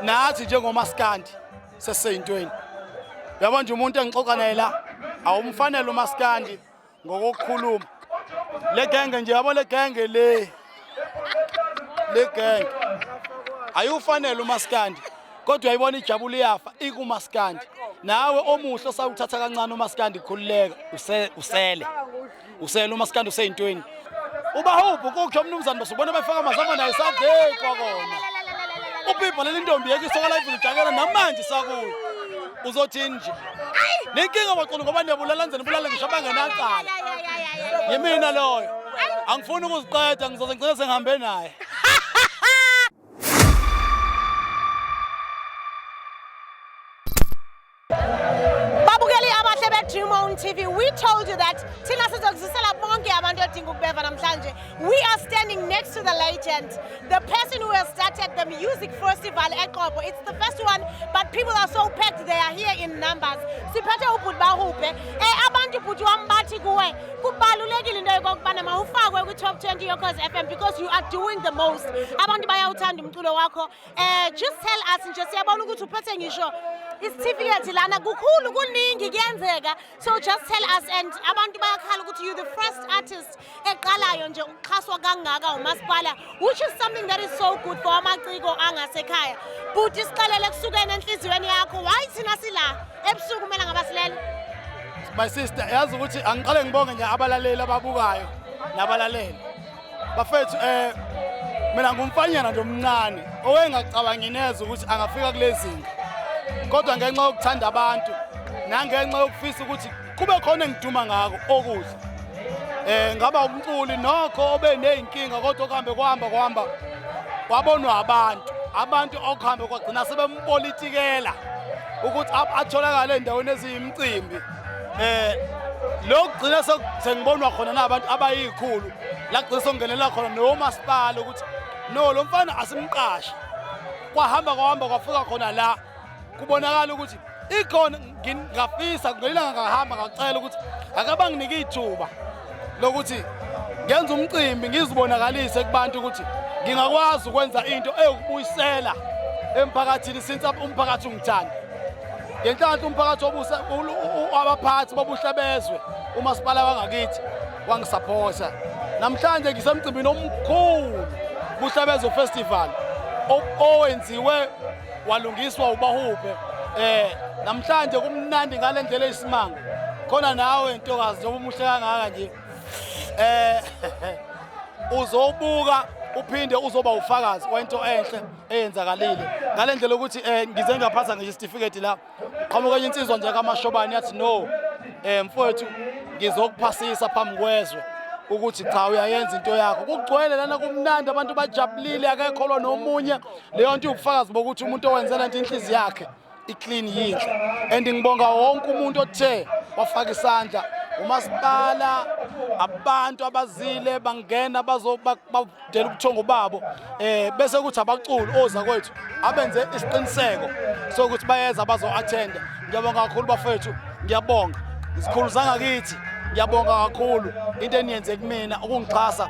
nathi njengomaskandi seseyintweni yabo nje umuntu engixoxa naye la awumfanele umaskandi ngokokukhuluma le genge nje yabo le genge le le genge ayufanele umaskandi kodwa ayibona ijabula iyafa ikumaskandi nawe omuhle osawuthatha kancane umaskandi khululeka usele useyena umaskandi useyintweni ubahubhu kukhe umnumzane basubona befaka amazama naye sadekwa kona ubhibha leli ntombi yeke isokola ivulijakela namanje sakuyo uzothini nje nenkinga baqulu ngoba nebulala nzeni bulala ngisho abangenacala yimina loyo angifuni ukuziqeda ngizoze ngicela sengihambe naye babukeli abahle bedream on tv we told you that thina sizokuzisela bonke abantu odinga ukubeva namhlanje we are standing next to the legend the person who has started the music festival eqobo it's the first one but people are so packed they are here in numbers siphethe ubhuti bahubhe um eh, abantu bhuti wam bathi kuwe kubalulekile into yokokubana mawufakwe kwi-top 20 yokhozi f m because you are doing the most abantu bayawuthanda umculo wakho Eh just tell us nje siyabona ukuthi uphethe ngisho isitifiketi lana kukhulu kuningi kuyenzeka so just tell us and abantu bayakhala ukuthi you the first artist eqalayo nje ukuxhaswa kangaka umasipala which is something that is so good for amaciko angasekhaya bhuti sixelele kusukene enhliziyweni yakho why thina sila ebusuku kumele ngaba silele my sister yazi ukuthi angiqale ngibonge nje abalaleli ababukayo nabalaleli bafethu eh mina ngumfanyana nje omncane owengacabangi neze ukuthi angafika kulezinga kodwa ngenxa yokuthanda abantu nangenxa yokufisa ukuthi kube khona engiduma ngako okuhle eh ngaba umculi nokho obe nezinkinga kodwa kuhambe kuhamba kuhamba wabonwa abantu abantu okuhambe kwagcina sebempolitikela ukuthi atholakale endaweni eziyimcimbi eh lokugcina sengibonwa khona nabantu abayikhulu la gcina songenela khona nomasipala ukuthi no lo mfana asimqashe kwahamba kwahamba kwafika khona la kubonakala ukuthi ikhona ngingafisa ngelanga ngahamba ngacela ukuthi akabanginike ithuba lokuthi ngenza umcimbi ngizibonakalise kubantu ukuthi ngingakwazi ukwenza into eyokubuyisela emphakathini since umphakathi ungithanda ngenhlanhla umphakathi obuse abaphathi bobuhle bezwe umasipala wangakithi wangisaphotha namhlanje ngisemcimbini omkhulu kuhlabezo festival owenziwe walungiswa ubahubhe eh namhlanje kumnandi ngale ndlela eyisimanga khona nawe ntokazi njengoba umuhle kangaka nje eh uzobuka uphinde uzoba ufakazi wento enhle eyenzakalile ngale ndlela ukuthi um ngize ngaphatha ngisho isitifiketi la qhamuka enye insizwa nje kamashobane yathi no um mfowethu ngizokuphasisa phambi kwezwe ukuthi cha uyayenza into yakho kugcwele lana kumnandi abantu bajabulile akekho lo nomunye leyo nto iwubufakazi bokuthi umuntu owenzela nto inhliziyo yakhe iclean yinhle and ngibonga wonke umuntu othe wafaka isandla umasipala abantu abazile bangena bazobadela ubuthongo babo eh bese kuthi abaculi oza kwethu abenze isiqiniseko sokuthi bayeza bazo-athenda ngiyabonga kakhulu bafethu ngiyabonga isikhulu sangakithi ngiyabonga kakhulu into eniyenze kumina ukungixhasa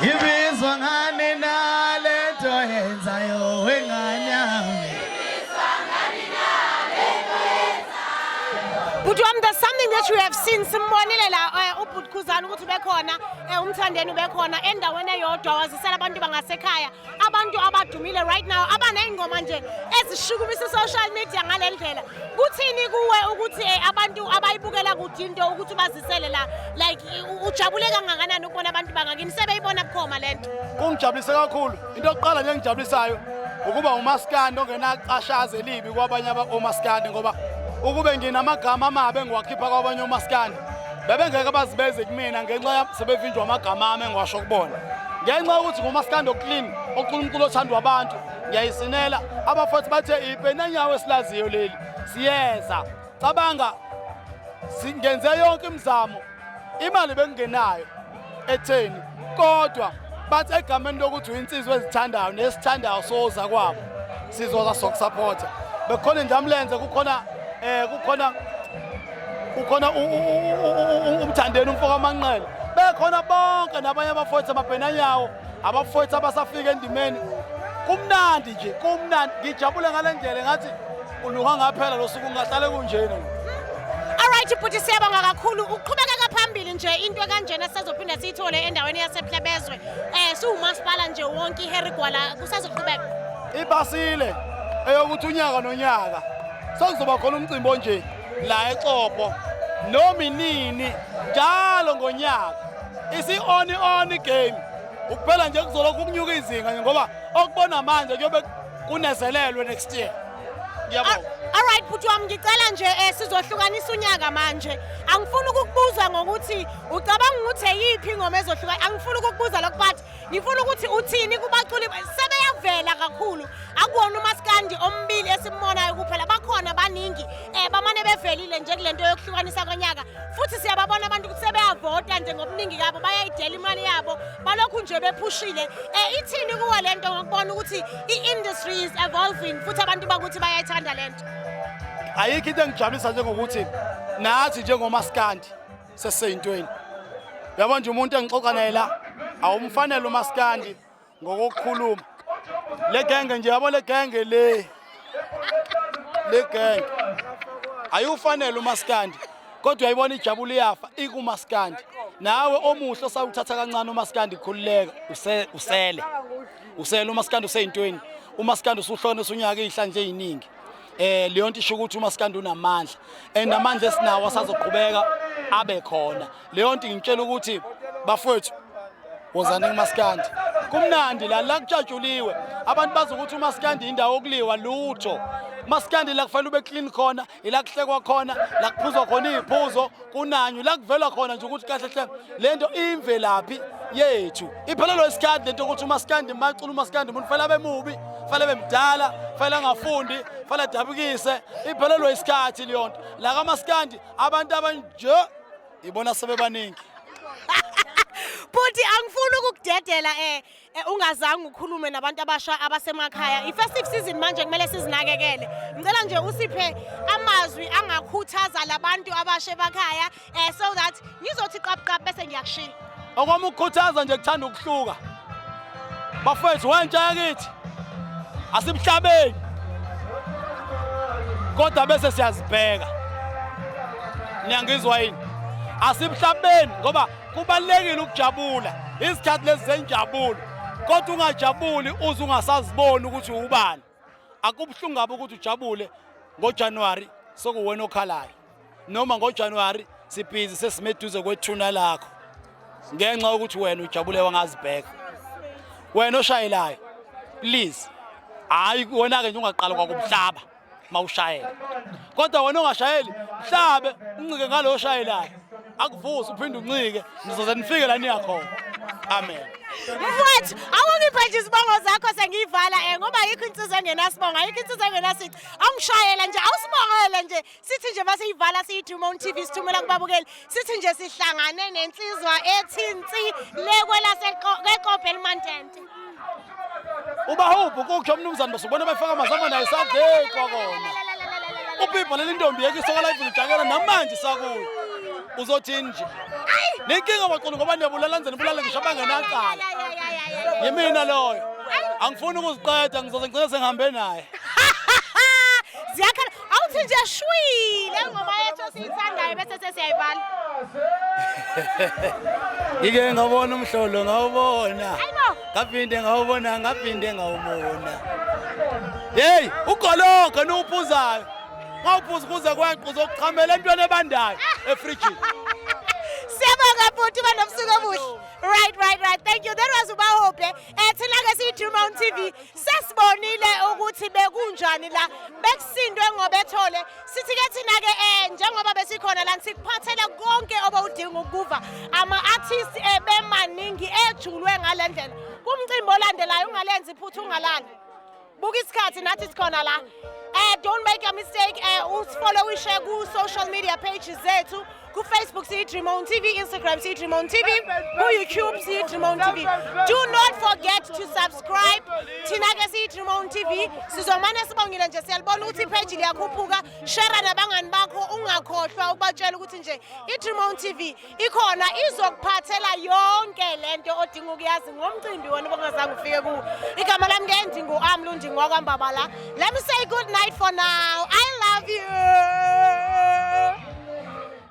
Ngibizwa ngani na le nto yenzayo wengane yami Bhuti wami there's something that you have seen simbonile la eh, ubhuti Khuzani ukuthi ubekhona eh, umthandeni ubekhona endaweni eyodwa wazisela abantu bangasekhaya abantu abadumile right now abaney'ngoma nje ezishukumisa i-social media ngale ndlela kuthini kuwe ukuthi um abantu abayibukela kude into ukuthi bazisele la like ujabule kangakanani ukubona abantu bangakini sebeyibona bukhoma le nto kungijabulise kakhulu into yokuqala nje engijabulisayo ukuba umaskandi ongenacashazi elibi kwabanye omaskandi ngoba ukube nginamagama amabi engiwakhipha kwabanye omaskandi bebengeke bazibeze kumina ngenxa yam sebevinjwa amagama ami engiwasho kubona ngenxa yokuthi ngumaskando clean onkulunkulu othandwa abantu ngiyayisinela abafothi bathe ipenanyawo esilaziyo leli siyeza cabanga singenze yonke imizamo imali bengingenayo ekutheni kodwa bathi egameni lokuthi uyinsizwa ezithandayo nesithandayo soza kwabo sizoza sokusapota bekhona injamlenze kukhona eh kukhona kukhona umthandeni umfoka amanqele bekhona bonke nabanye abafowethu amabhenanyawo abafowethu abasafika endimeni kumnandi nje kumnandi ngijabule ngale ndlela ngathi uluha ngaphela lo suku ngahlale kunjena Alright bhuti siyabonga kakhulu uqhubekeka phambili nje into kanjena sizophinde siyithole endaweni yasePhlebezwe eh siwumasipala nje wonke iHarry Gwala kusazoqhubeka Ibasile eyokuthi unyaka nonyaka sokuzoba khona umcimbi onje la eXopo noma inini njalo ngonyaka Isi-on on game ukuphela nje kuzolokhu kunyuka izinga nje ngoba okubona manje kuyobe kunezelelwe next year. Ngiyabonga. All right bhuti wami ngicela nje eh, sizohlukanisa unyaka manje. Angifuni ukukubuza ngokuthi ucabanga ukuthi eyiphi ingoma ezohluka. Angifuni ukukubuza lokho but ngifuna ukuthi uthini kubaculi sebeyavela kakhulu akuwona umaskandi ombili esimbonayo kuphela bakhona baningi um bamane bevelile nje kule nto yokuhlukanisa konyaka futhi siyababona abantu ukuthi sebeyavota nje ngobuningi kabo bayayidela imali yabo balokhu nje bephushile um ithini kuwe le nto ngokubona ukuthi i-industry is evolving futhi abantu bakuthi bayayithanda le nto ayikho into engijabulisa njengokuthi nathi njengomaskandi seseyintweni yabo nje umuntu engixoxa naye la awumfanele umaskandi ngokukhuluma le genge nje yabo le genge le le genge ayufanele umaskandi kodwa yayibona ijabula iyafa ikumaskandi nawe omuhle osawuthatha kancane umaskandi khululeka usele usele umaskandi useyintweni umaskandi usuhlonisa unyaka ihla nje eziningi eh leyo nto isho ukuthi umaskandi unamandla and amandla esinawo asazoqhubeka abe khona leyo nto ngitshela ukuthi bafowethu wozani kumaskandi kumnandi la la kutshatshuliwe abantu bazi ukuthi umaskandi indawo okuliwa lutho maskandi la kufanele ube clean khona ila kuhlekwa khona la kuphuzwa khona iziphuzo kunanyu la kuvela khona nje ukuthi kahle hle le nto imvelaphi yethu iphelelwa isikhathi lento ukuthi umasikandi macula umasikandi umuntu fanele abe mubi fanele abe mdala fanele angafundi fanele adabukise iphelelwa isikhathi leyo nto la kamasikandi abantu abanje ibona sebebaningi bhuti angifuni ukukudedela um eh. Eh, ungazange ukhulume nabantu abasha abasemakhaya i-festive season manje kumele sizinakekele ngicela nje usiphe amazwi angakhuthaza labantu abasha emakhaya um so that ngizothi qabuqabu bese ngiyakushiya okwami ukukhuthaza nje kuthanda ukuhluka bafethu wentsha yakithi asimhlabeni kodwa bese siyazibheka niyangizwa yini asimhlabeni ngoba Kubalulekile ukujabula izikhathi lezi zenjabulo kodwa ungajabuli uze ungasaziboni ukuthi ubani. Akubuhlungu kabi ukuthi ujabule ngoJanuary sokuwena okhalayo noma ngoJanuary sibhizi sesimeduze kwethuna lakho ngenxa yokuthi wena ujabule wangazibheka wena oshayelayo please hayi wena-ke nje ungaqala kwakubuhlaba mawushayela kodwa wena ongashayeli mhlabe uncike ngaloyo oshayelayo akuvusi uphinde uncike nizoze nifike la niya khona amen mfowethu awungiphe nje izibongo zakho sengiyivala um ngoba ayikho insizwa engenasibongo ayikho insizwa engenasici awungishayela nje awusibongele nje sithi nje uma siyivala siyithuma on-t v sithumela kubabukeli sithi nje sihlangane nensizwa ethinsi lekwelaseqobe elimantente ubahubhu kukhe umnumzane basubona befaka amazama naye sadlekwa kona ubhibha leli ntombi yeke isoka live lijakela namanje sakuyo uzothini nje nenkinga baqulu ngoba niyabulala nzeni bulale ngisho abangenacala yimina loyo angifuni ukuziqeda ngizoze ngicela sengihambe naye ziyakhala awuthi nje shwile ngoma yethu esiyithandayo bese sesiyayivala ngike ngawubona umhlolo ngawubona ngaphinde ngawubona ngaphinde ngawubona yeyi ugologo niwuphuzayo ngawuphuza ukuze kweqe uzokuchamela entweni ebandayo efrijini siyabonga bhuti banobusuku obuhle right right right thank you that was ubahope um thina-ke siyi-drew mountain tv sesibonile ukuthi bekunjani la bekusindwe ngobethole sithi-ke thina-ke um eh, njengoba besikhona lani sikuphathele konke obewudinga ukukuva ama-artist ebemaningi eh, ejulwe ngale ndlela kumcimbi olandelayo ungalenzi iphutha ungalali buka isikhathi nathi sikhona la um don't make a mistake um usifollowishe ku-social media pages zethu Ku-Facebook siyi-Dream On TV, Instagram siyi-Dream On TV, ku-YouTube siyi-Dream On TV. Do not forget to subscribe. Thina-ke siyi-Dream On TV. Sizomane sibongile nje siyalibona ukuthi ipage liyakhuphuka. Share nabangani bakho ungakhohlwa ukubatshela ukuthi nje i-Dream On TV ikhona izokuphathela yonke lento odinga ukuyazi ngomcimbi wona obongazange ufike kuwo. Igama lami ke ndingu Amlundi ngwakwambabala. Let me say good night for now. I love you.